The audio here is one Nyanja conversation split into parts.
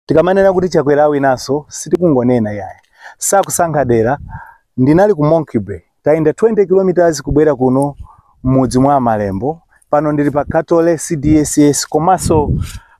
tikamanena kuti Chakwera awinaso sitikungonena yaye sakusankha dera ndinali ku Monkey Bay tayenda 20 kilometers kubwera kuno m'mudzi mwa Malembo pano ndili pa Katole CDSS komanso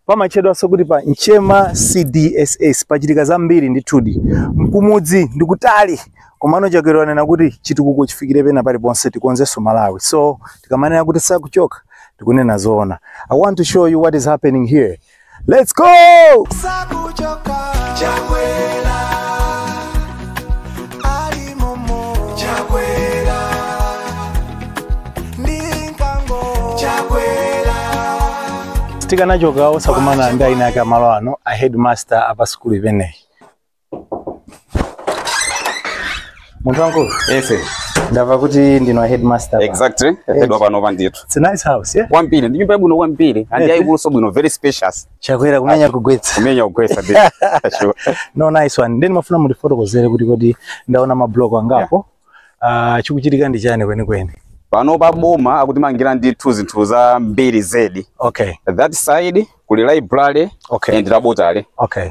pamatchedwanso kuti pa Nchema CDSS pachitika zambiri ndithudi mkumudzi ndikutali komano Chakwera wanena kuti chitukuko chifikire pena paliponse tikonzenso Malawi so tikamanena kuti sakuchoka tikunena zoona I want to show you what is happening here Let's go! sakuchoka Chakwera ali momo Chakwera ndi nkango Chakwera sitikanachoka osakumana ndi eni ake a malo ano a headmaster a pa sukulu imeneyi. munthu wankulu yes ndava kuti ndinu headmaster pa. exactly head wa panopa ndithu It's a nice house yeah kwambiri ndi nyumba yabwino kwambiri and Eh. yayikuluso bwino very spacious Chakwera kumenya kugwetsa kumenya kugwetsa bit sure no nice one nde nimafuna mutifotokozere kuti kodi ndaona mabloko angapo Ah, chikuchitika ndi chani kwenikweni panopa boma akutimangira ndithu zinthu zambiri zedi okay that side kuli library Okay. and laboratory okay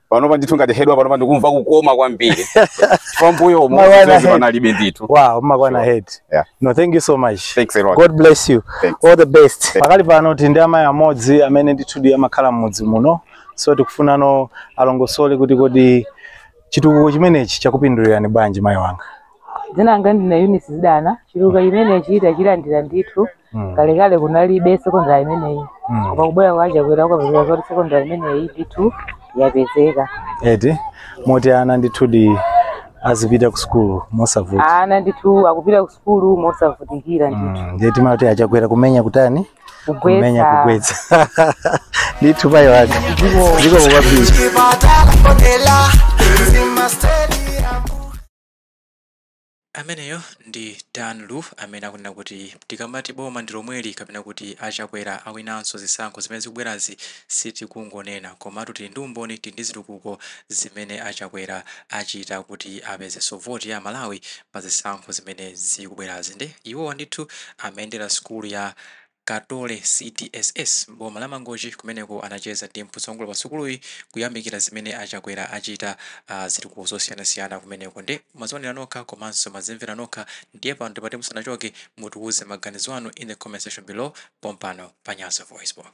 panopa ndithu ngati head wa panopa ndikumva kukoma kwambiri pambuyomu panalibe ndithu wow mmakwana head Yeah. no thank you so much Thanks a lot. God bless you Thanks. all the best pakali pano tili ndi amayi amodzi amene ndithudi amakhala m'mudzi muno so tikufunano alongosole kuti kodi chitukuko chimenechi chakupindulirani bwanji mayi wanga dzina langa ndine Eunice Zidana chitukuko chimenechi tachilandira ndithu Mm. kalekale kunalibe sekondari imeneyi Mm. koma kubwera kwa Chakwera ukapezeka zoti sekondari imeneyi ndithu yapezeka eti moti ana ndithudi azipita ku sukulu mosavuta ana ndithu akupita ku sukulu mosavutikira ndithu Mm, ndiye timati a Chakwera kumenya kutani kumenya kugwetsa kugwetsa ndithu mayi wanga zikomo kwambiri Ameneyo ndi Dan Lu amene akunena kuti tikamati boma ndi lomweli kapena kuti a Chakwera awinanso zisankho zimene zikubwerazi sitikungonena komatu tili ndi umboni, tili ndi zitukuko zimene a Chakwera achita kuti apezenso voti ya Amalawi pa zisankho zimene zikubwerazi nde iwowa ndithu amayendera sukulu ya Katole CDSS m'boma la Mangochi kumeneko anacheza ndi mtsogoleri pa sukuluyi kuyamikira zimene a Chakwera achita zitukuko zosiyanasiyana kumeneko nde mwazionera nokha komanso mwazimvera nokha ndiye pano tipati musanachoke mutiuze maganizo anu in the comment section below pompano pa Nyasa VoiceBox.